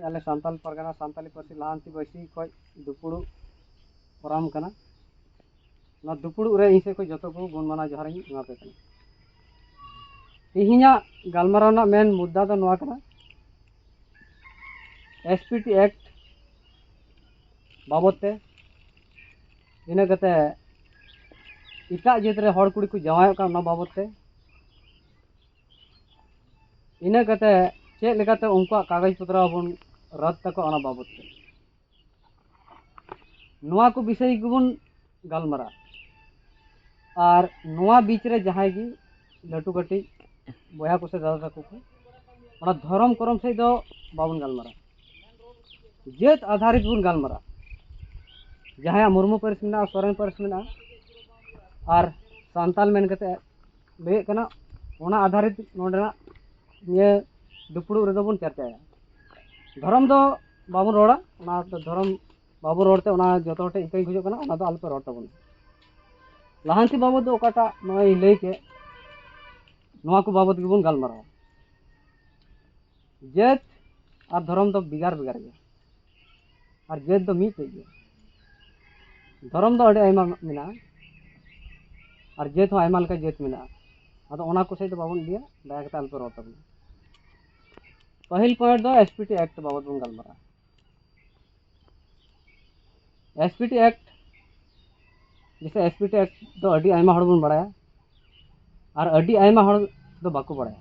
ᱟᱞᱮ ᱥᱟᱱᱛᱟᱞ ᱯᱟᱨᱜᱟᱱᱟ ᱥᱟᱱᱛᱟᱞᱤ ᱯᱟᱹᱨᱥᱤ ᱞᱟᱦᱟᱱᱛᱤ ᱵᱟᱹᱭᱥᱤ ᱠᱷᱚᱱ ᱫᱩᱯᱩᱲᱩᱵ ᱯᱷᱚᱨᱟᱢ ᱠᱟᱱᱟ ᱱᱚᱣᱟ ᱫᱩᱯᱩᱲᱩᱵ ᱨᱮ ᱤᱧ ᱥᱮᱫ ᱠᱷᱚᱱ ᱡᱚᱛᱚ ᱠᱚ ᱜᱩᱱ ᱢᱟᱱᱟᱣ ᱡᱚᱦᱟᱨ ᱤᱧ ᱮᱢᱟ ᱯᱮ ᱠᱟᱱᱟ ᱛᱮᱦᱮᱧᱟᱜ ᱜᱟᱞᱢᱟᱨᱟᱣ ᱨᱮᱱᱟᱜ ᱢᱮᱱ ᱢᱩᱫᱽᱫᱟ ᱫᱚ ᱱᱚᱣᱟ ᱠᱟᱱᱟ ᱮᱥ ᱯᱤ ᱴᱤ ᱮᱠᱴ ᱵᱟᱵᱚᱫ ᱛᱮ ᱤᱱᱟᱹ ᱠᱟᱛᱮ ᱮᱴᱟᱜ ᱡᱟᱹᱛ ᱨᱮ ᱦᱚᱲ ᱠᱩᱲᱤ ᱠᱚ ᱡᱟᱶᱟᱭᱚᱜ ᱠᱟᱱᱟ ᱚᱱᱟ ᱵᱟᱵᱚᱫ ᱛᱮ ᱤᱱᱟᱹ ᱠᱟᱛᱮ ᱪᱮᱫ ᱞᱮᱠᱟᱛᱮ ᱩᱱᱠᱩᱣᱟᱜ ᱠᱟᱜᱚᱡᱽ ᱯᱚᱛᱨᱚ ᱵᱚᱱ ᱨᱚᱫ ᱛᱟᱠᱚᱣᱟ ᱚᱱᱟ ᱵᱟᱵᱚᱫ ᱛᱮ ᱱᱚᱣᱟ ᱠᱚ ᱵᱤᱥᱚᱭ ᱜᱮᱵᱚᱱ ᱜᱟᱞᱢᱟᱨᱟᱜᱼᱟ ᱟᱨ ᱱᱚᱣᱟ ᱵᱤᱪ ᱨᱮ ᱡᱟᱦᱟᱸᱭ ᱜᱮ ᱞᱟᱹᱴᱩ ᱠᱟᱹᱴᱤᱡ ᱵᱚᱭᱦᱟ ᱠᱚ ᱥᱮ ᱫᱟᱫᱟ ᱛᱟᱠᱚ ᱠᱚ ᱚᱱᱟ ᱫᱷᱚᱨᱚᱢ ᱠᱚᱨᱚᱢ ᱥᱮᱫ ᱫᱚ ᱵᱟᱵᱚᱱ ᱜᱟᱞᱢᱟᱨᱟᱜᱼᱟ ᱡᱟᱹᱛ ᱟᱫᱷᱟᱨᱤᱛ ᱵᱚᱱ ᱜᱟᱞᱢᱟᱨᱟᱜᱼᱟ ᱡᱟᱦᱟᱸᱭᱟᱜ ᱢᱩᱨᱢᱩ ᱯᱟᱹᱨᱤᱥ ᱢᱮᱱᱟᱜᱼᱟ ᱥᱚᱨᱮᱱ ᱯᱟᱹᱨᱤᱥ ᱢᱮᱱᱟᱜᱼᱟ ᱟᱨ ᱥᱟᱱᱛᱟᱞ ᱢᱮᱱ ᱠᱟᱛᱮ ᱞᱟᱹᱭᱮᱫ ᱠᱟᱱᱟ ᱚᱱᱟ ᱟᱫᱷᱟᱨᱤᱛ ᱱᱚᱰᱮᱱᱟᱜ ᱱᱤᱭᱟᱹ ᱫᱩᱯᱲᱩᱵ ᱨᱮᱫᱚ ᱵᱚᱱ ᱪᱟᱨᱪᱟᱭᱟ ᱫᱷᱚᱨᱚᱢ ᱫᱚ ᱵᱟᱵᱚᱱ ᱨᱚᱲᱟ ᱚᱱᱟ ᱫᱷᱚᱨᱚᱢ ᱵᱟᱵᱚᱱ ᱨᱚᱲᱛᱮ ᱚᱱᱟ ᱡᱚᱛᱚ ᱦᱚᱲ ᱴᱷᱮᱱ ᱤᱠᱟᱹᱧ ᱠᱷᱚᱡᱚᱜ ᱠᱟᱱᱟ ᱚᱱᱟ ᱫᱚ ᱟᱞᱚᱯᱮ ᱨᱚᱲ ᱛᱟᱵᱚᱱᱟ ᱞᱟᱦᱟᱱᱛᱤ ᱵᱟᱵᱚᱫ ᱫᱚ ᱚᱠᱟᱴᱟᱜ ᱱᱚᱜᱼᱚᱭ ᱞᱟᱹᱭ ᱠᱮᱫ ᱱᱚᱣᱟ ᱠᱚ ᱵᱟᱵᱚᱫ ᱜᱮᱵᱚᱱ ᱜᱟᱞᱢᱟᱨᱟᱣᱟ ᱡᱟᱹᱛ ᱟᱨ ᱫᱷᱚᱨᱚᱢ ᱫᱚ ᱵᱷᱮᱜᱟᱨ ᱵᱷᱮᱜᱟᱨ ᱜᱮᱭᱟ ᱟᱨ ᱡᱟᱹᱛ ᱫᱚ ᱢᱤᱫᱴᱮᱡ ᱜᱮᱭᱟ ᱫᱷᱚᱨᱚᱢ ᱫᱚ ᱟᱹᱰᱤ ᱟᱭᱢᱟ ᱢᱮᱱᱟᱜᱼᱟ ᱟᱨ ᱡᱟᱹᱛ ᱦᱚᱸ ᱟᱭᱢᱟ ᱞᱮᱠᱟ ᱡᱟᱹᱛ ᱢᱮᱱᱟᱜᱼᱟ ᱟᱫᱚ ᱚᱱᱟ ᱠᱚ ᱥᱮᱫ ᱫᱚ ᱵᱟᱵᱚᱱ ᱤᱫᱤᱭᱟ ᱫᱟᱭᱟ ᱠᱟᱛᱮ ᱟᱞᱚᱯᱮ ᱨᱚᱲ ᱛᱟᱵᱚᱱᱟ ᱯᱟᱹᱦᱤᱞ ᱯᱚᱭᱮᱱᱴ ᱫᱚ ᱮᱥ ᱯᱤ ᱴᱤ ᱮᱠᱴ ᱵᱟᱵᱚᱫ ᱵᱚᱱ ᱜᱟᱞᱢᱟᱨᱟᱜᱼᱟ ᱮᱥ ᱯᱤ ᱴᱤ ᱮᱠᱴ ᱡᱮᱥᱮ ᱮᱥ ᱯᱤ ᱴᱤ ᱮᱠᱴ ᱫᱚ ᱟᱹᱰᱤ ᱟᱭᱢᱟ ᱦᱚᱲ ᱵᱚᱱ ᱵᱟᱲᱟᱭᱟ ᱟᱨ ᱟᱹᱰᱤ ᱟᱭᱢᱟ ᱦᱚᱲ ᱫᱚ ᱵᱟᱠᱚ ᱵᱟᱲᱟᱭᱟ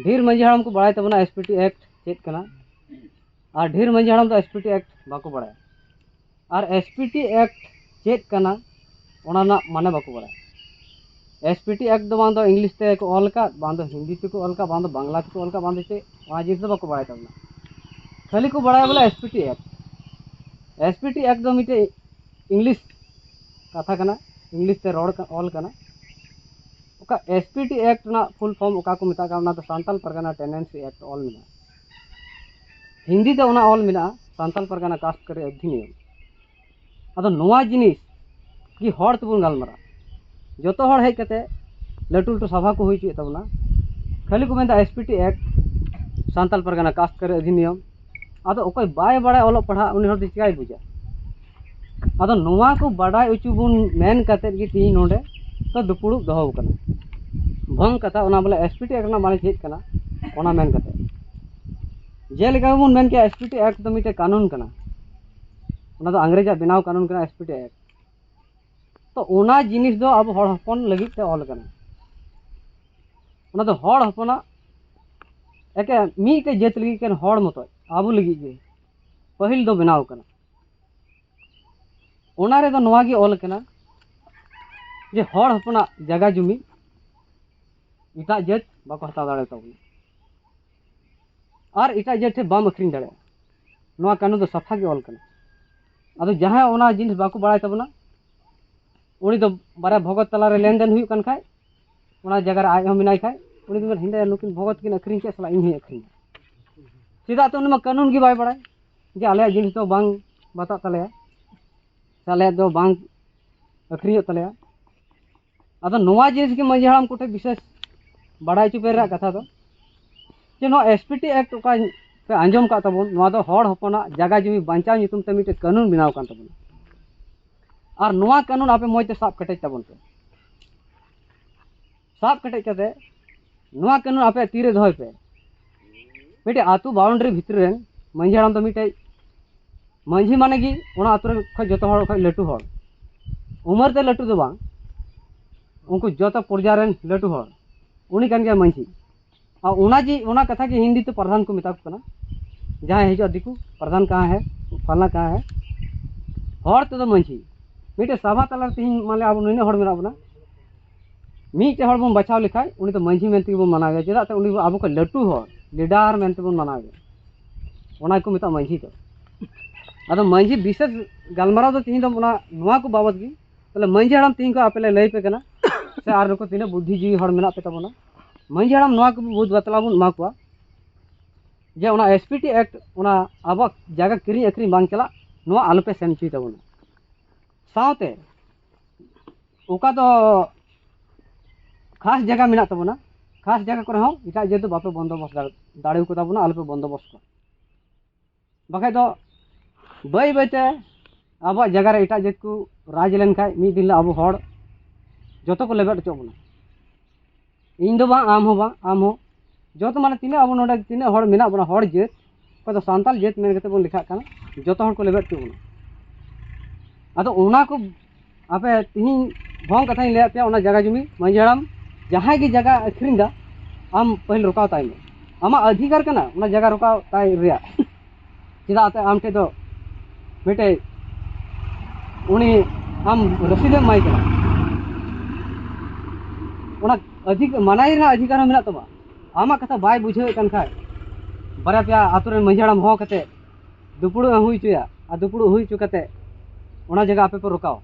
ᱰᱷᱮᱨ ᱢᱟᱺᱡᱷᱤ ᱦᱟᱲᱟᱢ ᱠᱚ ᱵᱟᱲᱟᱭ ᱛᱟᱵᱚᱱᱟ ᱮᱥ ᱯᱤ ᱴᱤ ᱮᱠᱴ ᱪᱮᱫ ᱠᱟᱱᱟ ᱟᱨ ᱰᱷᱮᱨ ᱢᱟᱺᱡᱷᱤ ᱦᱟᱲᱟᱢ ᱫᱚ ᱮᱥ ᱯᱤ ᱴᱤ ᱮᱠᱴ ᱵᱟᱠᱚ ᱵᱟᱲᱟᱭᱟ ᱟᱨ ᱮᱥ ᱯᱤ ᱴᱤ ᱮᱠᱴ ᱪᱮᱫ ᱠᱟᱱᱟ ᱚᱱᱟ ᱨᱮᱱᱟᱜ ᱢᱟᱱᱮ ᱵᱟᱠᱚ ᱵᱟᱲᱟᱭᱟ ᱮᱥ ᱯᱤ ᱴᱤ ᱮᱠᱴ ᱫᱚ ᱵᱟᱝ ᱫᱚ ᱤᱝᱞᱤᱥ ᱛᱮᱠᱚ ᱚᱞ ᱟᱠᱟᱫ ᱵᱟᱝ ᱫᱚ ᱦᱤᱱᱫᱤ ᱛᱮᱠᱚ ᱚᱞ ᱟᱠᱟᱫ ᱵᱟᱝ ᱫᱚ ᱵᱟᱝᱞᱟ ᱛᱮᱠᱚ ᱚᱞ ᱟᱠᱟᱫ ᱵᱟᱝ ᱫᱚ ᱪᱮᱫ ᱚᱱᱟ ᱡᱤᱱᱤᱥ ᱫᱚ ᱵᱟᱠᱚ ᱵᱟᱲᱟᱭ ᱛᱟᱵᱚᱱᱟ ᱠᱷᱟᱹᱞᱤ ᱠᱚ ᱵᱟᱲᱟᱭᱟ ᱵᱚᱞᱮ S P T Act S P T Act ᱫᱚ ᱢᱤᱫᱴᱮᱡ ᱤᱝᱞᱤᱥ ᱠᱟᱛᱷᱟ ᱠᱟᱱᱟ ᱤᱝᱞᱤᱥ ᱛᱮ ᱨᱚᱲ ᱚᱞ ᱠᱟᱱᱟ ᱚᱠᱟ ᱮᱥ ᱯᱤ ᱴᱤ ᱮᱠᱴ ᱨᱮᱱᱟᱜ ᱯᱷᱩᱞ ᱯᱷᱚᱨᱢ ᱚᱠᱟ ᱠᱚ ᱢᱮᱛᱟᱜ ᱠᱟᱱᱟ ᱚᱱᱟ ᱫᱚ ᱥᱟᱱᱛᱟᱞ ᱯᱟᱨᱜᱟᱱᱟ ᱴᱮᱱᱰᱮᱱᱥᱤ ᱮᱠᱴ ᱚᱞ ᱢᱮᱱᱟᱜᱼᱟ ᱦᱤᱱᱫᱤ ᱛᱮ ᱚᱱᱟ ᱚᱞ ᱢᱮᱱᱟᱜᱼᱟ ᱥᱟᱱᱛᱟᱞ ᱯᱟᱨᱜᱟᱱᱟ ᱠᱟᱥᱴ ᱠᱟᱨᱮ ᱚᱫᱷᱤᱱᱤᱭᱚᱢ ᱟᱫᱚ ᱱᱚᱣᱟ ᱡᱤᱱᱤᱥ ᱜᱮ ᱦᱚᱲ ᱛᱮᱵᱚᱱ ᱜᱟᱞᱢᱟᱨᱟᱜᱼᱟ ᱡᱚᱛᱚ ᱦᱚᱲ ᱦᱮᱡ ᱠᱟᱛᱮ ᱞᱟᱹᱴᱩ ᱞᱟᱹᱴᱩ ᱥᱚᱵᱷᱟ ᱠᱚ ᱦᱩᱭ ᱦᱚᱪᱚᱭᱮᱫ ᱛᱟᱵᱚᱱᱟ ᱠᱷᱟᱹᱞᱤ ᱠᱚ ᱢᱮᱱᱫᱟ S P T Act Santal Pargana ᱠᱟᱥᱴ ᱠᱟᱨᱮ ᱚᱫᱷᱤᱱᱤᱭᱚᱢ ᱟᱫᱚ ᱚᱠᱚᱭ ᱵᱟᱭ ᱵᱟᱲᱟᱭᱟ ᱚᱞᱚᱜ ᱯᱟᱲᱦᱟᱜ ᱩᱱᱤ ᱦᱚᱲ ᱫᱚ ᱪᱤᱠᱟᱹᱭ ᱵᱩᱡᱟ ᱟᱫᱚ ᱱᱚᱣᱟ ᱠᱚ ᱵᱟᱰᱟᱭ ᱦᱚᱪᱚ ᱵᱚᱱ ᱢᱮᱱ ᱠᱟᱛᱮ ᱜᱮ ᱛᱤᱦᱤᱧ ᱱᱚᱰᱮ ᱫᱚ ᱫᱩᱯᱩᱲᱩᱵ ᱫᱚᱦᱚ ᱠᱟᱱᱟ ᱵᱷᱚᱝ ᱠᱟᱛᱷᱟ ᱚᱱᱟ ᱵᱚᱞᱮ ᱮᱥ ᱯᱤ ᱴᱤ ᱮᱠᱴ ᱨᱮᱱᱟᱜ ᱢᱟᱱᱮ ᱪᱮᱫ ᱠᱟᱱᱟ ᱚᱱᱟ ᱢᱮᱱ ᱠᱟᱛᱮ ᱡᱮᱞᱮᱠᱟ ᱵᱚᱱ ᱢᱮᱱ ᱠᱮᱭᱟ ᱮᱥ ᱯᱤ ᱴᱤ ᱮᱠᱴ ᱫᱚ ᱢᱤᱫᱴᱮᱱ ᱠᱟᱹᱱᱩᱱ ᱠᱟᱱᱟ ᱚᱱᱟ ᱫᱚ ᱤᱝᱨᱮᱡᱟᱜ ᱵᱮᱱᱟᱣ ᱠᱟᱹᱱᱩᱱ ᱠᱟᱱᱟ ᱮᱥ ᱯᱤ ᱴᱤ ᱮᱠᱴ ᱛᱚ ᱚᱱᱟ ᱡᱤᱱᱤᱥ ᱫᱚ ᱟᱵᱚ ᱦᱚᱲ ᱦᱚᱯᱚᱱ ᱞᱟᱹᱜᱤᱫ ᱛᱮ ᱚᱞ ᱠᱟᱱᱟ ᱚᱱᱟ ᱫᱚ ᱦᱚᱲ ᱦᱚᱯᱚᱱᱟᱜ ᱮᱠᱮᱱ ᱢᱤᱫᱴᱮᱡ ᱡᱟᱹᱛ ᱞᱟᱹᱜᱤᱫ ᱮᱠᱮᱱ ᱦᱚᱲ ᱢᱚᱛᱚᱡ ᱟᱵᱚ ᱞᱟᱹᱜᱤᱫ ᱜᱮ ᱯᱟᱹᱦᱤᱞ ᱫᱚ ᱵᱮᱱᱟᱣ ᱠᱟᱱᱟ ᱚᱱᱟ ᱨᱮᱫᱚ ᱱᱚᱣᱟ ᱜᱮ ᱚᱞ ᱠᱟᱱᱟ ᱡᱮ ᱦᱚᱲ ᱦᱚᱯᱚᱱᱟᱜ ᱡᱟᱭᱜᱟ ᱡᱩᱢᱤ ᱮᱴᱟᱜ ᱡᱟᱹᱛ ᱵᱟᱠᱚ ᱦᱟᱛᱟᱣ ᱫᱟᱲᱮ ᱛᱟᱵᱚᱱᱟ ᱟᱨ ᱮᱴᱟᱜ ᱡᱟᱹᱛ ᱴᱷᱮᱱ ᱵᱟᱢ ᱟᱹᱠᱷᱨᱤᱧ ᱫᱟᱲᱮᱭᱟᱜᱼᱟ ᱱᱚᱣᱟ ᱠᱟᱹᱱᱩᱱ ᱫᱚ ᱥᱟᱯᱷᱟ ᱜᱮ ᱚᱞ ᱠᱟᱱᱟ ᱟᱫᱚ ᱡᱟᱦᱟᱸᱭ ᱚᱱᱟ ᱡᱤᱱᱤᱥ ᱵᱟᱠᱚ ᱵᱟᱲᱟᱭ ᱛᱟᱵᱚᱱᱟ ᱩᱱᱤ ᱫᱚ ᱵᱟᱨᱭᱟ ᱵᱷᱚᱜᱚᱛ ᱛᱟᱞᱟᱨᱮ ᱞᱮᱱᱫᱮᱱ ᱦᱩᱭᱩᱜ ᱠᱟᱱ ᱠᱷᱟᱡ ᱚᱱᱟ ᱡᱟᱭᱜᱟ ᱨᱮ ᱟᱡ ᱦᱚᱸ ᱢᱮᱱᱟᱭ ᱠᱷᱟᱡ ᱩᱱᱤ ᱫᱚ ᱦᱤᱸᱫᱟᱹᱭᱟ ᱱᱩᱠᱤᱱ ᱵᱷᱚᱜᱚᱛ ᱠᱤᱱ ᱟᱹᱠᱷᱨᱤᱧ ᱠᱮᱫ ᱥᱟᱞᱟ ᱤᱧ ᱦᱚᱸᱧ ᱟᱹᱠᱷᱨᱤᱧᱟ ᱪᱮᱫᱟᱜ ᱛᱮ ᱩᱱᱤ ᱢᱟ ᱠᱟᱹᱱᱩᱱ ᱜᱮ ᱵᱟᱭ ᱵᱟᱲᱟᱭ ᱡᱮ ᱟᱞᱮᱭᱟᱜ ᱡᱤᱱᱤᱥ ᱫᱚ ᱵᱟᱝ ᱵᱟᱛᱟᱜ ᱛᱟᱞᱮᱭᱟ ᱥᱮ ᱟᱞᱮᱭᱟᱜ ᱫᱚ ᱵᱟᱝ ᱟᱹᱠᱷᱨᱤᱧᱚᱜ ᱛᱟᱞᱮᱭᱟ ᱟᱫᱚ ᱱᱚᱣᱟ ᱡᱤᱱᱤᱥ ᱜᱮ ᱢᱟᱺᱡᱷᱤ ᱦᱟᱲᱟᱢ ᱠᱚᱴᱷᱮᱱ ᱵᱤᱥᱮᱥ ᱵᱟᱲᱟᱭ ᱦᱚᱪᱚ ᱯᱮ ᱨᱮᱱᱟᱜ ᱠᱟᱛᱷᱟ ᱫᱚ ᱡᱮ ᱱᱚᱣᱟ ᱮᱥ ᱯᱤ ᱴᱤ ᱮᱠᱴ ᱚᱠᱟ ᱯᱮ ᱟᱸᱡᱚᱢ ᱠᱟᱜ ᱛᱟᱵᱚᱱ ᱱᱚᱣᱟ ᱫᱚ ᱦᱚᱲ ᱦᱚᱯᱚᱱᱟᱜ ᱡᱟᱭᱜᱟ ᱡᱩᱢᱤ ᱵᱟᱧᱪᱟᱣ ᱧᱩᱛᱩᱢ ᱛᱮ ᱢᱤᱫᱴᱮᱱ ᱠᱟᱹᱱᱩᱱ ᱵᱮᱱᱟᱣ ᱠᱟᱱ ᱛᱟᱵᱚᱱᱟ ᱟᱨ ᱱᱚᱣᱟ ᱠᱟᱹᱱᱩᱱ ᱟᱯᱮ ᱢᱚᱡᱽ ᱛᱮ ᱥᱟᱵ ᱠᱮᱴᱮᱡ ᱛᱟᱵᱚᱱ ᱯᱮ ᱥᱟᱵ ᱠᱮᱴᱮᱡ ᱠᱟᱛᱮ ᱱᱚᱣᱟ ᱠᱟᱹᱱᱩᱱ ᱟᱯᱮ ᱛᱤᱨᱮ ᱫᱚᱦᱚᱭ ᱯᱮ ᱢᱤᱫᱴᱮᱡ ᱟᱹᱛᱩ ᱵᱟᱣᱩᱱᱰᱟᱨᱤ ᱵᱷᱤᱛᱨᱤ ᱨᱮᱱ ᱢᱟᱹᱡᱷᱤ ᱦᱟᱲᱟᱢ ᱫᱚ ᱢᱤᱫᱴᱮᱡ ᱢᱟᱹᱡᱷᱤ ᱢᱟᱱᱮ ᱜᱮ ᱚᱱᱟ ᱟᱹᱛᱩ ᱨᱮᱱ ᱠᱷᱚᱡ ᱡᱚᱛᱚ ᱦᱚᱲ ᱠᱷᱚᱡ ᱞᱟᱹᱴᱩ ᱦᱚᱲ ᱩᱢᱟᱹᱨ ᱛᱮ ᱞᱟᱹᱴᱩ ᱫᱚ ᱵᱟᱝ ᱩᱱᱠᱩ ᱡᱚᱛᱚ ᱯᱨᱚᱡᱟ ᱨᱮᱱ ᱞᱟᱹᱴᱩ ᱦᱚᱲ ᱩᱱᱤ ᱠᱟᱱ ᱜᱮᱭᱟᱭ ᱢᱟᱹᱡᱷᱤ ᱟᱨ ᱚᱱᱟ ᱡᱮ ᱚᱱᱟ ᱠᱟᱛᱷᱟ ᱜᱮ ᱦᱤᱱᱫᱤ ᱛᱮ ᱯᱨᱟᱫᱷᱟᱱ ᱠᱚ ᱢᱮᱛᱟ ᱠᱚ ᱠᱟᱱᱟ ᱡᱟᱦᱟᱸᱭ ᱦᱤᱡᱩᱜᱼᱟ ᱫᱤᱠᱩ ᱯᱨᱟᱫᱷᱟᱱ ᱠᱟᱦᱟᱸ ᱦᱮ ᱯᱷᱟᱞᱱᱟ ᱠᱟᱦᱟᱸ ᱦᱮ ᱦᱚᱲ ᱛᱮᱫᱚ ᱢᱟᱺᱡᱷᱤ ᱢᱤᱫᱴᱮᱡ ᱥᱟᱵᱷᱟ ᱛᱟᱞᱟᱨᱮ ᱛᱮᱦᱤᱧ ᱢᱟᱱᱮ ᱟᱵᱚ ᱱᱤᱱᱟᱹᱜ ᱦᱚᱲ ᱢᱮᱱᱟᱜ ᱵᱚᱱᱟ ᱢᱤᱫᱴᱮᱡ ᱦᱚᱲ ᱵᱚᱱ ᱵᱟᱪᱷᱟᱣ ᱞᱮᱠᱷᱟᱡ ᱩᱱᱤ ᱫᱚ ᱢᱟᱺᱡᱷᱤ ᱢᱮᱱᱛᱮ ᱜᱮᱵᱚᱱ ᱢᱟᱱᱟᱣᱮᱭᱟ ᱪᱮᱫᱟᱜ ᱥᱮ ᱩᱱᱤ ᱟᱵᱚ ᱠᱷᱚᱡ ᱞᱟᱹᱴᱩ ᱦᱚᱲ ᱞᱤᱰᱟᱨ ᱢᱮᱱᱛᱮ ᱵᱚᱱ ᱢᱟᱱᱟᱣᱮᱭᱟ ᱚᱱᱟ ᱜᱮᱠᱚ ᱢᱮᱛᱟᱜᱼᱟ ᱢᱟᱺᱡᱷᱤ ᱫᱚ ᱟᱫᱚ ᱢᱟᱺᱡᱷᱤ ᱵᱤᱥᱮᱥ ᱜᱟᱞᱢᱟᱨᱟᱣ ᱫᱚ ᱛᱮᱦᱤᱧ ᱫᱚ ᱚᱱᱟ ᱱᱚᱣᱟ ᱠᱚ ᱵᱟᱵᱚᱫ ᱜᱮ ᱛᱟᱦᱚᱞᱮ ᱢᱟᱹᱡᱷᱤ ᱦᱟᱲᱟᱢ ᱛᱮᱦᱮᱧ ᱠᱚ ᱟᱯᱮ ᱞᱮ ᱞᱟᱹᱭ ᱯᱮ ᱠᱟᱱᱟ ᱥᱮ ᱟᱨ ᱱᱩᱠᱩ ᱛᱤᱱᱟᱹᱜ ᱵᱩᱫᱽᱫᱷᱤ ᱡᱤᱣᱤ ᱦᱚᱲ ᱢᱮᱱᱟᱜ ᱯᱮ ᱛᱟᱵᱚᱱᱟ ᱢᱟᱹᱡᱷᱤ ᱦᱟᱲᱟᱢ ᱱᱚᱣᱟ ᱠᱚ ᱵᱩᱫᱽ ᱵᱟᱛᱞᱟ ᱵᱚᱱ ᱮᱢᱟ ᱠᱚᱣᱟ ᱡᱮ ᱚᱱᱟ ᱮᱥ ᱯᱤ ᱴᱤ ᱮᱠᱴ ᱚᱱᱟ ᱟᱵᱚᱣᱟᱜ ᱡᱟᱭᱜᱟ ᱠᱤᱨᱤᱧ ᱟᱹᱠᱷᱨᱤᱧ ᱵᱟᱝ ᱪᱟᱞᱟᱜ ᱱᱚᱣᱟ ᱟᱞᱚᱯᱮ ᱥᱮᱱ ᱦᱚᱪᱚᱭ ᱛᱟᱵᱚᱱᱟ ᱥᱟᱶᱛᱮ ᱚᱠᱟ ᱫᱚ ᱠᱷᱟᱥ ᱡᱟᱭᱜᱟ ᱢᱮᱱᱟᱜ ᱛᱟᱵᱚᱱᱟ ᱠᱷᱟᱥ ᱡᱟᱭᱜᱟ ᱠᱚᱨᱮ ᱦᱚᱸ ᱮᱴᱟᱜ ᱡᱟᱹᱛ ᱫᱚ ᱵᱟᱯᱮ ᱵᱚᱱᱫᱳᱵᱚᱥᱛ ᱫᱟᱲᱮ ᱫᱟᱲᱮ ᱠᱚ ᱛᱟᱵᱚᱱᱟ ᱟᱞᱚᱯᱮ ᱵᱚᱱᱫᱳᱵᱚᱥᱛ ᱠᱚᱣᱟ ᱵᱟᱠᱷᱟᱡ ᱫᱚ ᱵᱟᱹᱭ ᱵᱟᱹᱭᱛᱮ ᱟᱵᱚᱣᱟᱜ ᱡᱟᱭᱜᱟ ᱨᱮ ᱮᱴᱟᱜ ᱡᱟᱹᱛ ᱠᱚ ᱨᱟᱡᱽ ᱞᱮᱱᱠᱷᱟᱡ ᱢᱤᱫ ᱫᱤᱱ ᱦᱤᱞᱳᱜ ᱟᱵᱚ ᱦᱚᱲ ᱡᱚᱛᱚ ᱠᱚ ᱞᱮᱵᱮᱫ ᱦᱚᱪᱚ ᱵᱚᱱᱟ ᱤᱧ ᱫᱚ ᱵᱟᱝ ᱟᱢ ᱦᱚᱸ ᱵᱟᱝ ᱟᱢ ᱦᱚᱸ ᱡᱚᱛᱚ ᱢᱟᱱᱮ ᱛᱤᱱᱟᱹᱜ ᱟᱵᱚ ᱱᱚᱰᱮ ᱛᱤᱱᱟᱹᱜ ᱦᱚᱲ ᱢᱮᱱᱟᱜ ᱵᱚᱱᱟ ᱦᱚᱲ ᱡᱟᱹᱛ ᱚᱠᱚᱭ ᱫᱚ ᱥᱟᱱᱛᱟᱲ ᱡᱟᱹᱛ ᱢᱮᱱ ᱠᱟᱛᱮᱫ ᱵᱚᱱ ᱞᱮᱠᱷᱟᱜ ᱠᱟᱱᱟ ᱡᱚᱛᱚ ᱦᱚᱲ ᱠᱚ ᱞᱮᱵᱮᱫ ᱦᱚᱪᱚ ᱵᱚᱱᱟ ᱟᱫᱚ ᱚᱱᱟ ᱠᱚ ᱟᱯᱮ ᱛᱤᱦᱤᱧ ᱵᱷᱚᱝ ᱠᱟᱛᱷᱟᱧ ᱞᱟᱹᱭᱟᱫ ᱯᱮᱭᱟ ᱚᱱᱟ ᱡᱟᱭᱜᱟ ᱡᱩᱢᱤ ᱢᱟᱺᱡᱷᱤ ᱦᱟᱲᱟᱢ ᱡᱟᱦᱟᱸᱭ ᱜᱮ ᱡᱟᱭᱜᱟ ᱟᱹᱠᱷᱨᱤᱧ ᱫᱟ ᱟᱢ ᱯᱟᱹᱦᱤᱞ ᱨᱚᱠᱟᱣ ᱛᱟᱭ ᱢᱮ ᱟᱢᱟᱜ ᱚᱫᱷᱤᱠᱟᱨ ᱠᱟᱱᱟ ᱚᱱᱟ ᱡᱟᱭᱜᱟ ᱨᱚᱠᱟᱣ ᱛᱟᱭ ᱨᱮᱭᱟᱜ ᱪᱮᱫᱟᱜ ᱟᱛᱮ ᱟᱢ ᱴᱷᱮᱡ ᱫᱚ ᱢᱤᱫᱴᱮᱡ ᱩᱱᱤ ᱟᱢ ᱨᱚᱥᱤᱫᱮᱢ ᱮᱢᱟᱭ ᱠᱟᱱᱟ ᱚᱱᱟ ᱚᱫᱷᱤᱠ ᱢᱟᱱᱟᱭ ᱨᱮᱱᱟᱜ ᱚᱫᱷᱤᱠᱟᱨ ᱦᱚᱸ ᱢᱮᱱᱟᱜ ᱛᱟᱢᱟ ᱟᱢᱟᱜ ᱠᱟᱛᱷᱟ ᱵᱟᱭ ᱵᱩᱡᱷᱟᱹᱣᱮᱫ ᱠᱟᱱ ᱠᱷᱟᱡ ᱵᱟᱨᱭᱟ ᱯᱮᱭᱟ ᱟᱛᱳ ᱨᱮᱱ ᱢᱟᱺᱡᱷᱤ ᱦᱟᱲᱟᱢ ᱦᱚᱦᱚ ᱠᱟᱛᱮᱫ ᱫᱩᱯᱲᱩᱵ ᱮᱢ ᱦᱩᱭ ᱦᱚᱪᱚᱭᱟ ᱟᱨ ᱫᱩᱯᱲᱩᱵ ᱦᱩᱭ ᱦᱚᱪᱚ ᱠᱟᱛᱮ ᱚᱱᱟ ᱡᱟᱭᱜᱟ ᱟᱯᱮ ᱯᱮ ᱨᱚᱠᱟᱣᱟ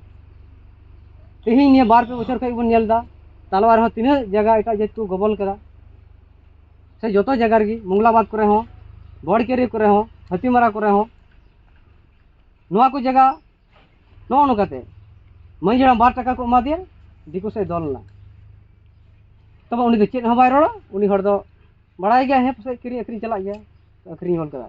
ᱛᱮᱦᱮᱧ ᱱᱤᱭᱟᱹ ᱵᱟᱨ ᱯᱮ ᱵᱚᱪᱷᱚᱨ ᱠᱷᱚᱱ ᱵᱚᱱ ᱧᱮᱞ ᱮᱫᱟ ᱛᱟᱞᱣᱟ ᱨᱮᱦᱚᱸ ᱛᱤᱱᱟᱹᱜ ᱡᱟᱭᱜᱟ ᱮᱴᱟᱜ ᱡᱟᱹᱛ ᱠᱚ ᱜᱚᱵᱚᱞ ᱠᱮᱫᱟ ᱥᱮ ᱡᱚᱛᱚ ᱡᱟᱭᱜᱟ ᱨᱮᱜᱮ ᱢᱚᱝᱜᱞᱟᱵᱟᱫᱽ ᱠᱚᱨᱮ ᱦᱚᱸ ᱵᱚᱲᱠᱮᱨᱤ ᱠᱚᱨᱮ ᱦᱚᱸ ᱦᱟᱹᱛᱤᱢᱟᱨᱟ ᱠᱚᱨᱮ ᱦᱚᱸ ᱱᱚᱣᱟ ᱠᱚ ᱡᱟᱭᱜᱟ ᱱᱚᱜᱼᱚ ᱱᱚᱝᱠᱟᱛᱮ ᱢᱟᱹᱡᱷᱤ ᱦᱟᱲᱟᱢ ᱵᱟᱨ ᱴᱟᱠᱟ ᱠᱚ ᱮᱢᱟ ᱫᱮᱭᱟ ᱫᱤᱠᱩ ᱥᱮᱫ ᱫᱚᱞ ᱞᱮᱱᱟ ᱛᱚᱵᱮ ᱩᱱᱤ ᱫᱚ ᱪᱮᱫ ᱦᱚᱸ ᱵᱟᱭ ᱨᱚᱲᱟ ᱩᱱᱤ ᱦᱚᱲ ᱫᱚ ᱵᱟᱲᱟᱭ ᱜᱮᱭᱟ ᱦᱮᱸ ᱯᱟᱥᱮᱡ ᱠᱤᱨᱤᱧ ᱟᱹᱠᱷᱨᱤᱧ ᱪᱟᱞᱟᱜ ᱜᱮᱭᱟ ᱟᱹᱠᱷᱨᱤᱧ ᱦᱚᱲ ᱠᱟᱫᱟ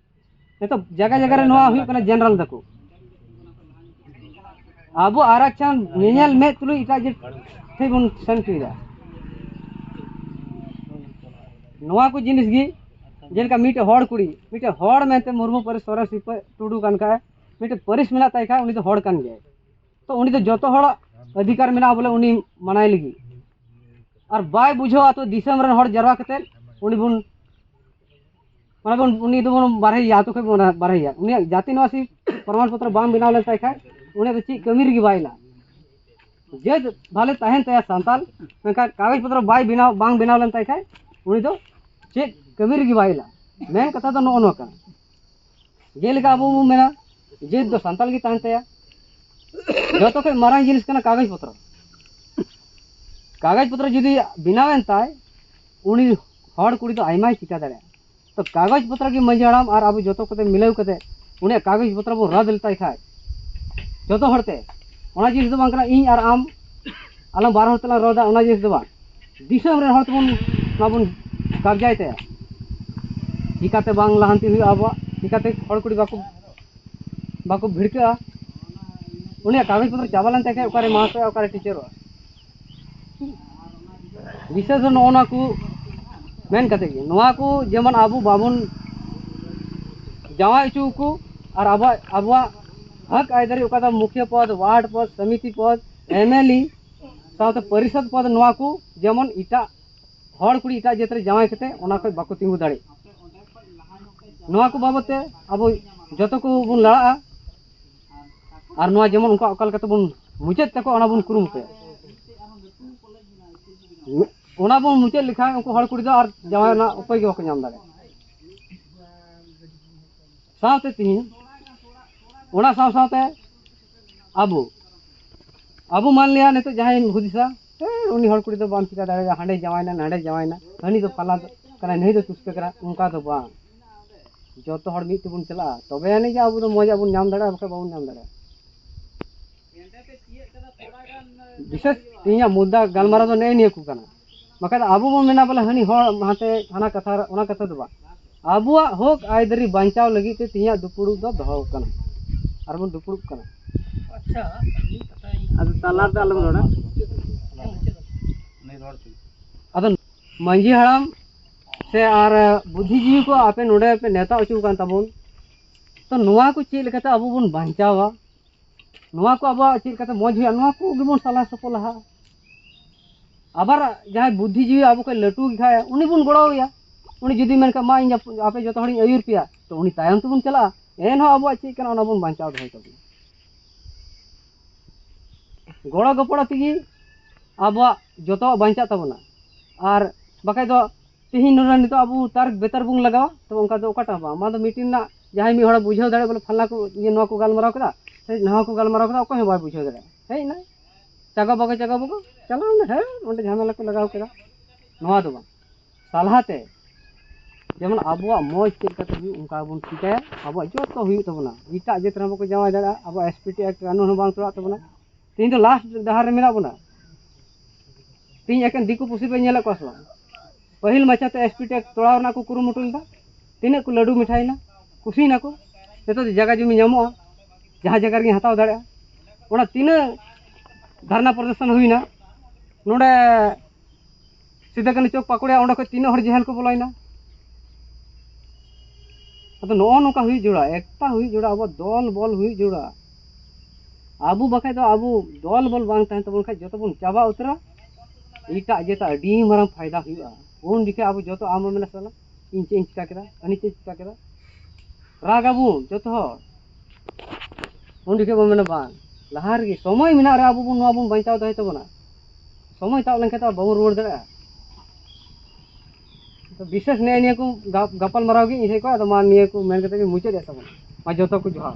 ᱱᱤᱛᱚᱜ ᱡᱟᱭᱜᱟ ᱡᱟᱭᱜᱟ ᱨᱮ ᱱᱚᱣᱟ ᱦᱩᱭᱩᱜ ᱠᱟᱱᱟ ᱡᱮᱱᱟᱨᱮᱞ ᱫᱟᱠᱚ ᱟᱵᱚ ᱟᱨᱟᱪᱟᱱ ᱧᱮᱧᱮᱞ ᱢᱮᱫ ᱛᱩᱞᱩᱡ ᱮᱴᱟᱜ ᱡᱟᱹᱛ ᱴᱷᱮᱱ ᱵᱚᱱ ᱥᱮᱱ ᱦᱚᱪᱚᱭᱮᱫᱟ ᱱᱚᱣᱟ ᱠᱚ ᱡᱤᱱᱤᱥ ᱜᱮ ᱡᱮᱞᱮᱠᱟ ᱢᱤᱫᱴᱮᱡ ᱦᱚᱲ ᱠᱩᱲᱤ ᱢᱤᱫᱴᱮᱡ ᱦᱚᱲ ᱢᱮᱱᱛᱮ ᱢᱩᱨᱢᱩ ᱯᱟᱹᱨᱤᱥ ᱥᱚᱨᱮᱥ ᱴᱩᱰᱩ ᱠᱟᱱ ᱠᱷᱟᱡ ᱢᱤᱫᱴᱮᱡ ᱯᱟᱹᱨᱤᱥ ᱢᱮᱱᱟᱜ ᱛᱟᱭ ᱠᱷᱟᱡ ᱩᱱᱤ ᱫᱚ ᱦᱚᱲ ᱠᱟᱱ ᱜᱮᱭᱟᱭ ᱛᱚ ᱩᱱᱤ ᱫᱚ ᱡᱚᱛᱚ ᱦᱚᱲᱟᱜ ᱚᱫᱷᱤᱠᱟᱨ ᱢᱮᱱᱟᱜᱼᱟ ᱵᱚᱞᱮ ᱩᱱᱤ ᱢᱟᱱᱟᱭ ᱞᱟᱹᱜᱤᱫ ᱟᱨ ᱵᱟᱭ ᱵᱩᱡᱷᱟᱹᱣᱟ ᱛᱚ ᱫᱤᱥᱚᱢ ᱨᱮᱱ ᱦᱚᱲ ᱡᱟᱨᱣᱟ ᱠᱟᱛᱮ ᱩᱱᱤ ᱵᱚᱱ ᱚᱱᱟ ᱩᱱᱤ ᱫᱚᱵᱚᱱ ᱵᱟᱨᱦᱮᱭᱟ ᱟᱛᱳ ᱠᱷᱚᱱ ᱵᱚᱱ ᱵᱟᱨᱦᱮᱭᱟ ᱩᱱᱤᱭᱟᱜ ᱡᱟᱹᱛᱤ ᱱᱚᱣᱟᱥᱤ ᱯᱨᱚᱢᱟᱱ ᱯᱚᱛᱨᱚ ᱵᱟᱝ ᱵᱮᱱᱟᱣ ᱞᱮᱱ ᱛᱟᱭ ᱠᱷᱟᱱ ᱩᱱᱤ ᱫᱚ ᱪᱮᱫ ᱠᱟᱹᱢᱤ ᱨᱮᱜᱮ ᱵᱟᱭ ᱞᱟᱜᱼᱟ ᱡᱮ ᱵᱷᱟᱞᱮ ᱛᱟᱦᱮᱱ ᱛᱟᱭᱟ ᱥᱟᱱᱛᱟᱞ ᱢᱮᱱᱠᱷᱟᱱ ᱠᱟᱜᱚᱡᱽ ᱯᱚᱛᱨᱚ ᱵᱟᱭ ᱵᱮᱱᱟᱣ ᱵᱟᱝ ᱵᱮᱱᱟᱣ ᱞᱮᱱ ᱛᱟᱭ ᱠᱷᱟᱱ ᱩᱱᱤ ᱫᱚ ᱪᱮᱫ ᱠᱟᱹᱢᱤ ᱨᱮᱜᱮ ᱵᱟᱭ ᱞᱟᱜᱼᱟ ᱢᱮᱱ ᱠᱟᱛᱷᱟ ᱫᱚ ᱱᱚᱜᱼᱚ ᱱᱚᱣᱟ ᱠᱟᱱᱟ ᱡᱮᱞᱮᱠᱟ ᱟᱵᱚ ᱵᱚᱱ ᱢᱮᱱᱟ ᱡᱟᱹᱛ ᱫᱚ ᱥᱟᱱᱛᱟᱲ ᱜᱮ ᱛᱟᱦᱮᱱ ᱛᱟᱭᱟ ᱡᱚᱛᱚ ᱠᱷᱚᱱ ᱢᱟᱨᱟᱝ ᱡᱤᱱᱤᱥ ᱠᱟᱱᱟ ᱠᱟᱜᱚᱡᱽ ᱯᱚᱛᱨᱚ ᱠᱟᱜᱚᱡᱽ ᱯᱚᱛᱨᱚ ᱡᱩᱫᱤ ᱵᱮᱱᱟᱣᱮᱱ ᱛᱟᱭ ᱩᱱᱤ ᱦᱚᱲ ᱠᱩᱲᱤ ᱫᱚ ᱟᱭᱢᱟᱭ ᱪᱤᱠᱟ ᱫᱟᱲᱮᱭᱟᱜᱼᱟ ᱛᱚ ᱠᱟᱜᱚᱡᱽ ᱯᱚᱛᱨᱚ ᱜᱮ ᱢᱟᱹᱡᱷᱤ ᱦᱟᱲᱟᱢ ᱟᱨ ᱟᱵᱚ ᱡᱚᱛᱚ ᱠᱚᱛᱮ ᱢᱤᱞᱟᱹᱣ ᱠᱟᱛᱮ ᱩᱱᱤᱭᱟᱜ ᱠᱟᱜᱚᱡᱽ ᱯᱚᱛᱨᱚ ᱵᱚᱱ ᱨᱟᱫ ᱞᱮᱛᱟᱭ ᱠᱷᱟᱡ ᱡᱚᱛᱚ ᱦᱚᱲᱛᱮ ᱚᱱᱟ ᱡᱤᱱᱤᱥ ᱫᱚ ᱵᱟᱝ ᱠᱟᱱᱟ ᱤᱧ ᱟᱨ ᱟᱢ ᱟᱞᱟᱝ ᱵᱟᱨ ᱦᱚᱲ ᱛᱮᱞᱟᱝ ᱨᱚᱲᱫᱟ ᱚᱱᱟ ᱡᱤᱱᱤᱥ ᱫᱚ ᱵᱟᱝ ᱫᱤᱥᱚᱢ ᱨᱮ ᱦᱚᱲ ᱛᱮᱵᱚᱱ ᱵᱟᱵᱚᱱ ᱠᱟᱵᱽᱡᱟᱭ ᱛᱟᱭᱟ ᱪᱤᱠᱟᱹᱛᱮ ᱵᱟᱝ ᱞᱟᱦᱟᱱᱛᱤ ᱦᱩᱭᱩᱜᱼᱟ ᱟᱵᱚᱣᱟᱜ ᱪᱤᱠᱟᱹᱛᱮ ᱦᱚᱲ ᱠᱩᱲᱤ ᱵᱟᱠᱚ ᱵᱟᱠᱚ ᱵᱷᱤᱲᱠᱟᱹᱜᱼᱟ ᱩᱱᱤᱭᱟᱜ ᱠᱟᱜᱚᱡᱽ ᱯᱚᱛᱨᱚ ᱪᱟᱵᱟ ᱞᱮᱱ ᱛᱟᱭ ᱠᱷᱟᱱ ᱚᱠᱟᱨᱮ ᱢᱟᱥᱴᱟᱨᱚᱜᱼᱟ ᱚᱠᱟᱨᱮ ᱴᱤᱪᱟᱨᱚᱜᱼᱟ ᱵᱤᱥᱮᱥ ᱱᱚᱜᱼᱚ ᱱᱚᱣᱟ ᱠᱚ ᱢᱮᱱ ᱠᱟᱛᱮ ᱜᱮ ᱱᱚᱣᱟ ᱠᱚ ᱡᱮᱢᱚᱱ ᱟᱵᱚ ᱵᱟᱵᱚᱱ ᱡᱟᱶᱟᱭ ᱦᱚᱪᱚ ᱠᱚ ᱟᱨ ᱟᱵᱚᱣᱟᱜ ᱟᱵᱚᱣᱟᱜ ᱦᱚᱠ ᱟᱹᱭᱫᱟᱹᱨᱤ ᱚᱠᱟ ᱫᱚ ᱢᱩᱠᱷᱤᱭᱟᱹ ᱯᱚᱫᱽ ᱳᱣᱟᱨᱰ ᱯᱚᱫᱽ ᱥᱚᱢᱤᱛᱤ ᱯᱚᱫᱽ ᱮᱢ ᱮᱞ ᱮ ᱥᱟᱶᱛᱮ ᱯᱚᱨᱤᱥᱚᱫ ᱯᱚᱫ ᱱᱚᱣᱟ ᱠᱚ ᱡᱮᱢᱚᱱ ᱮᱴᱟᱜ ᱦᱚᱲ ᱠᱩᱲᱤ ᱮᱴᱟᱜ ᱡᱟᱹᱛ ᱨᱮ ᱡᱟᱶᱟᱭ ᱠᱟᱛᱮ ᱚᱱᱟ ᱠᱷᱚᱡ ᱵᱟᱠᱚ ᱛᱤᱸᱜᱩ ᱫᱟᱲᱮᱜ ᱱᱚᱣᱟ ᱠᱚ ᱵᱟᱵᱚᱛ ᱛᱮ ᱟᱵᱚ ᱡᱚᱛᱚ ᱠᱚ ᱵᱚᱱ ᱞᱟᱲᱟᱜᱼᱟ ᱟᱨ ᱱᱚᱣᱟ ᱡᱮᱢᱚᱱ ᱩᱱᱠᱩᱣᱟᱜ ᱚᱠᱟ ᱞᱮᱠᱟᱛᱮ ᱵᱚᱱ ᱢᱩᱪᱟᱹᱫ ᱛᱟᱠᱚ ᱚᱱᱟ ᱵᱚᱱ ᱠᱩᱨᱩᱢᱩᱴᱩᱭᱟ ᱚᱱᱟ ᱵᱚᱱ ᱢᱩᱪᱟᱹᱫ ᱞᱮᱠᱷᱟᱱ ᱩᱱᱠᱩ ᱦᱚᱲ ᱠᱩᱲᱤ ᱫᱚ ᱟᱨ ᱡᱟᱶᱟᱭ ᱨᱮᱱᱟᱜ ᱩᱯᱟᱹᱭ ᱜᱮ ᱵᱟᱠᱚ ᱧᱟᱢ ᱫᱟᱲᱮᱭᱟᱜᱼᱟ ᱥᱟᱶᱛᱮ ᱛᱤᱦᱤᱧ ᱚᱱᱟ ᱥᱟᱶ ᱥᱟᱶᱛᱮ ᱟᱵᱚ ᱟᱵᱚ ᱢᱟᱱᱞᱤᱭᱟ ᱱᱤᱛᱚᱜ ᱡᱟᱦᱟᱸᱭ ᱦᱩᱫᱤᱥᱟ ᱩᱱᱤ ᱦᱚᱲ ᱠᱩᱲᱤ ᱫᱚ ᱵᱟᱢ ᱪᱤᱠᱟ ᱫᱟᱲᱮᱭᱟᱜᱼᱟ ᱦᱟᱸᱰᱮ ᱡᱟᱶᱟᱭᱱᱟ ᱱᱟᱸᱰᱮ ᱡᱟᱶᱟᱭᱱᱟ ᱦᱟᱹᱱᱤ ᱫᱚ ᱯᱟᱞᱟ ᱠᱟᱱᱟᱭ ᱱᱩᱭ ᱫᱚ ᱛᱩᱥᱯᱮ ᱠᱟᱱᱟ ᱚᱱᱠᱟ ᱫᱚ ᱵᱟᱝ ᱡᱚᱛᱚ ᱦᱚᱲ ᱢᱤᱫ ᱛᱮᱵᱚᱱ ᱪᱟᱞᱟᱜᱼᱟ ᱛᱚᱵᱮ ᱟᱹᱱᱤᱡ ᱜᱮ ᱟᱵᱚ ᱫᱚ ᱢᱚᱡᱟᱜ ᱵᱚᱱ ᱧᱟᱢ ᱫᱟᱲᱮᱭᱟᱜᱼᱟ ᱵᱟᱠᱷᱟᱡ ᱵᱟᱵᱚᱱ ᱧᱟᱢ ᱫᱟᱲᱮᱭᱟᱜᱼᱟ ᱵᱤᱥᱮᱥ ᱤᱧᱟᱹᱜ ᱢᱩᱫᱽᱫᱟ ᱜᱟᱞᱢᱟᱨᱟᱣ ᱫᱚ ᱱᱮᱜᱼᱮ ᱱᱤᱭᱟᱹ ᱠᱚ ᱠᱟᱱᱟ ᱵᱟᱠᱷᱟᱡ ᱫᱚ ᱟᱵᱚ ᱵᱚᱱ ᱢᱮᱱᱟ ᱵᱚᱞᱮ ᱦᱟᱹᱱᱤ ᱦᱚᱲ ᱦᱟᱱᱛᱮ ᱦᱟᱱᱟ ᱠᱟᱛᱷᱟ ᱚᱱᱟ ᱠᱟᱛᱷᱟ ᱫᱚ ᱵᱟᱝ ᱟᱵᱚᱣᱟᱜ ᱦᱚᱠ ᱟᱹᱭᱫᱟᱹᱨᱤ ᱵᱟᱧᱪᱟᱣ ᱞᱟᱹᱜᱤᱫ ᱛᱮ ᱛᱮᱦᱮᱧᱟᱜ ᱫᱩᱯᱲᱩᱵ ᱫᱚ ᱫᱚᱦᱚ ᱠᱟᱱᱟ ᱟᱨ ᱵᱚᱱ ᱫᱩᱯᱲᱩᱵ ᱠᱟᱱᱟ ᱟᱪᱪᱷᱟ ᱟᱫᱚ ᱛᱟᱞᱟ ᱨᱮᱫᱚ ᱟᱞᱚᱢ ᱨᱚᱲᱟ ᱟᱫᱚ ᱢᱟᱺᱡᱷᱤ ᱦᱟᱲᱟᱢ ᱥᱮ ᱟᱨ ᱵᱩᱫᱽᱫᱷᱤᱡᱤᱵᱤ ᱠᱚ ᱟᱯᱮ ᱱᱚᱰᱮ ᱯᱮ ᱱᱮᱣᱛᱟ ᱦᱚᱪᱚ ᱠᱟᱱ ᱛᱟᱵᱚᱱ ᱛᱚ ᱱᱚᱣᱟ ᱠᱚ ᱪᱮᱫ ᱞᱮᱠᱟᱛᱮ ᱟᱵᱚ ᱵᱚᱱ ᱵᱟᱧᱪᱟᱣᱟ ᱱᱚᱣᱟ ᱠᱚ ᱟᱵᱚᱣᱟᱜ ᱪᱮᱫ ᱠᱟᱛᱮ ᱢᱚᱡᱽ ᱦᱩᱭᱩᱜᱼᱟ ᱱᱚᱣᱟ ᱠᱚ ᱜᱮᱵᱚᱱ ᱥᱟᱞᱟ ᱥᱚᱯᱚᱞᱟᱦᱟ ᱟᱵᱟᱨ ᱡᱟᱦᱟᱸᱭ ᱵᱩᱫᱽᱫᱷᱤ ᱡᱤᱣᱤ ᱟᱵᱚ ᱠᱚ ᱞᱟᱹᱴᱩ ᱠᱷᱟᱭ ᱩᱱᱤ ᱵᱚᱱ ᱜᱚᱲᱚᱣᱟᱭᱟ ᱩᱱᱤ ᱡᱩᱫᱤ ᱢᱮᱱᱠᱷᱟᱱ ᱢᱟ ᱤᱧ ᱟᱯᱮ ᱡᱚᱛᱚ ᱦᱚᱲᱤᱧ ᱟᱹᱭᱩᱨ ᱯᱮᱭᱟ ᱛᱚ ᱩᱱᱤ ᱛᱟᱭᱚᱢ ᱛᱮᱵᱚᱱ ᱪᱟᱞᱟᱜᱼᱟ ᱮᱱᱦᱚᱸ ᱟᱵᱚᱣᱟᱜ ᱪᱮᱫ ᱠᱟᱱᱟ ᱚᱱᱟ ᱵᱚᱱ ᱵᱟᱧᱪᱟᱣ ᱫᱚᱦᱚᱭ ᱛᱟᱵᱚᱱᱟ ᱜᱚᱲᱚ ᱜᱚᱯᱚᱲᱚ ᱛᱮᱜᱮ ᱟᱵᱚᱣᱟᱜ ᱡᱚᱛᱚᱣᱟᱜ ᱵᱟᱧᱪᱟᱜ ᱛᱟᱵᱚᱱᱟ ᱟᱨ ᱵᱟᱠᱷᱟᱡ ᱫᱚ ᱛᱮᱦᱮᱧ ᱱᱚᱰᱮ ᱱᱤᱛᱚᱜ ᱟᱵᱚ ᱛᱟᱨ ᱵᱮᱛᱟᱨ ᱵᱚᱱ ᱞᱟᱜᱟᱣᱟ ᱛᱚᱵᱮ ᱚᱱᱠᱟ ᱫᱚ ᱚᱠᱟᱴᱟᱜ ᱵᱟᱝ ᱚᱱᱟ ᱫᱚ ᱢᱤᱴᱤᱝ ᱨᱮᱱᱟᱜ ᱡᱟᱦᱟᱸᱭ ᱢᱤᱫ ᱦᱚᱲ ᱵᱩᱡᱷᱟᱹᱣ ᱫᱟᱲᱮᱭᱟᱜ ᱵᱚᱞᱮ ᱯᱷᱟᱞᱱᱟ ᱠᱚ ᱤᱭᱟᱹ ᱱᱚᱣᱟ ᱠᱚ ᱜᱟᱞᱢᱟᱨᱟᱣ ᱠᱮᱫᱟ ᱥᱮ ᱱᱟᱣᱟ ᱠᱚ ᱜᱟᱞᱢᱟᱨᱟᱣ ᱠᱮᱫᱟ ᱚᱠᱚᱭ ᱦᱚᱸ ᱵᱟᱭ ᱵᱩᱡᱷᱟᱹᱣ ᱫᱟᱲᱮᱭᱟᱜᱼᱟ ᱦᱮᱡ ᱮᱱᱟᱭ ᱪᱟᱜᱟ ᱵᱟᱜᱟ ᱪᱟᱜᱟ ᱵᱟᱜᱟ ᱪᱟᱞᱟᱣ ᱮᱱᱟ ᱦᱮᱸ ᱚᱸᱰᱮ ᱡᱷᱟᱢᱮᱞᱟ ᱠᱚ ᱞᱟᱜᱟᱣ ᱠᱮᱫᱟ ᱱᱚᱣᱟ ᱫᱚ ᱵᱟᱝ ᱥᱟᱞᱦᱟᱛᱮ ᱡᱮᱢᱚᱱ ᱟᱵᱚᱣᱟᱜ ᱢᱚᱡᱽ ᱪᱮᱫ ᱞᱮᱠᱟᱛᱮ ᱦᱩᱭᱩᱜ ᱚᱱᱠᱟ ᱵᱚᱱ ᱪᱤᱠᱟᱹᱭᱟ ᱟᱵᱚᱣᱟᱜ ᱡᱚᱛᱚ ᱦᱩᱭᱩᱜ ᱛᱟᱵᱚᱱᱟ ᱮᱴᱟᱜ ᱡᱟᱹᱛ ᱨᱮᱦᱚᱸ ᱵᱟᱠᱚ ᱡᱟᱶᱟᱭ ᱫᱟᱲᱮᱭᱟᱜᱼᱟ ᱟᱵᱚᱣᱟᱜ ᱮᱥ ᱯᱤ ᱴᱤ ᱮᱠᱴ ᱠᱟᱹᱱᱩᱱ ᱦᱚᱸ ᱵᱟᱝ ᱛᱚᱲᱟᱜ ᱛᱟᱵᱚᱱᱟ ᱛᱮᱦᱮᱧ ᱫᱚ ᱞᱟᱥᱴ ᱰᱟᱦᱟᱨ ᱨᱮ ᱢᱮᱱᱟᱜ ᱵᱚᱱᱟ ᱛᱮᱦᱮᱧ ᱮᱠᱮᱱ ᱫᱤᱠᱩ ᱯᱩᱥᱤ ᱯᱮ ᱧᱮᱞᱮᱫ ᱠᱚᱣᱟ ᱥᱮ ᱵᱟᱝ ᱯᱟᱹᱦᱤᱞ ᱢᱟᱪᱷᱟᱛᱮ ᱮᱥ ᱯᱤ ᱴᱮᱠ ᱛᱚᱲᱟᱣ ᱨᱮᱱᱟᱜ ᱠᱚ ᱠᱩᱨᱩᱢᱩᱴᱩ ᱞᱮᱫᱟ ᱛᱤᱱᱟᱹᱜ ᱠᱚ ᱞᱟᱹᱰᱩ ᱢᱤᱴᱷᱟᱭᱮᱱᱟ ᱠᱩᱥᱤᱭᱮᱱᱟ ᱠᱚ ᱱᱤᱛᱚᱜ ᱫᱚ ᱡᱟᱭᱜᱟ ᱡᱚᱢᱤ ᱧᱟᱢᱚᱜᱼᱟ ᱡᱟᱦᱟᱸ ᱡᱟᱭᱜᱟ ᱨᱮᱜᱮᱧ ᱦᱟᱛᱟᱣ ᱫᱟᱲᱮᱭᱟᱜᱼᱟ ᱚᱱᱟ ᱛᱤᱱᱟᱹᱜ ᱫᱷᱟᱨᱱᱟ ᱯᱨᱚᱫᱚᱨᱥᱚᱱ ᱦᱩᱭᱱᱟ ᱱᱚᱰᱮ ᱥᱤᱫᱟ ᱠᱟᱹᱱᱩ ᱪᱚᱠ ᱯᱟᱠᱩᱲᱤᱭᱟ ᱚᱸᱰᱮ ᱠᱷᱚᱱ ᱛᱤᱱᱟᱹᱜ ᱦᱚᱲ ᱡᱮᱦᱮᱞ ᱠᱚ ᱵᱚᱞᱚᱭᱮᱱᱟ ᱟᱫᱚ ᱱᱚᱜᱼᱚ ᱱᱚᱝᱠᱟ ᱦᱩᱭᱩᱜ ᱡᱚᱲᱟ ᱮᱠᱛᱟ ᱦᱩᱭᱩᱜ ᱡᱚᱲᱟ ᱟᱵᱚ ᱫᱚᱞ ᱵᱚᱞ ᱦᱩᱭᱩᱜ ᱡᱚᱲᱟ ᱟᱵᱚ ᱵᱟᱠᱷᱟᱡ ᱫᱚ ᱟᱵᱚ ᱫᱚᱞ ᱵᱚᱞ ᱵᱟᱝ ᱛᱟᱦᱮᱱ ᱛᱟᱵᱚᱱ ᱠᱷᱟᱡ ᱡᱚᱛᱚ ᱵᱚᱱ ᱪᱟᱵᱟ ᱩᱛᱟᱹᱨᱟ ᱮᱴᱟᱜ ᱡᱟᱹᱛᱟᱜ ᱟᱹᱰᱤ ᱢᱟᱨᱟᱝ ᱯᱷᱟᱭᱫᱟ ᱦᱩᱭᱩᱜᱼᱟ ᱩᱱ ᱡᱚᱠᱷᱮᱡ ᱟᱵᱚ ᱡᱚᱛᱚ ᱟᱢ ᱦᱚᱸ ᱢᱮᱱᱟ ᱥᱟᱞᱟ ᱤᱧ ᱪᱮᱫ ᱤᱧ ᱪᱤᱠᱟ ᱠᱮᱫᱟ ᱩᱱᱤ ᱪᱮᱫ ᱪᱤᱠᱟ ᱠᱮᱫᱟ ᱨᱟᱜ ᱟᱵᱚᱱ ᱡᱚᱛᱚ ᱦᱚᱲ ᱩᱱ ᱡᱚᱠᱷᱮᱡ ᱵᱚᱱ ᱢᱮᱱᱟ ᱵᱟᱝ ᱞᱟᱦᱟ ᱨᱮᱜᱮ ᱥᱚᱢᱚᱭ ᱢᱮᱱᱟᱜ ᱨᱮ ᱟᱵᱚ ᱵᱚᱱ ᱱᱚᱣᱟ ᱵᱚᱱ ᱵᱟᱧᱪᱟᱣ ᱫᱚᱦᱚᱭ ᱛᱟᱵᱚᱱᱟ ᱥᱚᱢᱚᱭ ᱛᱟᱵ ᱞᱮᱱᱠᱷᱟᱱ ᱛᱚ ᱵᱟᱵᱚᱱ ᱨᱩᱣᱟᱹᱲ ᱫᱟᱲᱮᱭᱟᱜᱼᱟ ᱛᱚ ᱵᱤᱥᱮᱥ ᱱᱮᱜᱼᱮ ᱱᱤᱭᱟᱹ ᱠᱚ ᱜᱟᱯᱟᱞ ᱢᱟᱨᱟᱣ ᱜᱮ ᱤᱧ ᱥᱮᱫ ᱠᱷᱚᱱ ᱟᱫᱚ ᱢᱟ ᱱᱤᱭᱟᱹ ᱠᱚ ᱢᱮᱱ ᱠᱟᱛᱮ ᱜᱮ ᱢᱩᱪᱟᱹᱫᱮᱫ ᱛᱟᱵᱚᱱᱟ ᱢᱟ ᱡᱚᱛᱚ ᱠᱚ ᱡᱚᱦᱟᱨ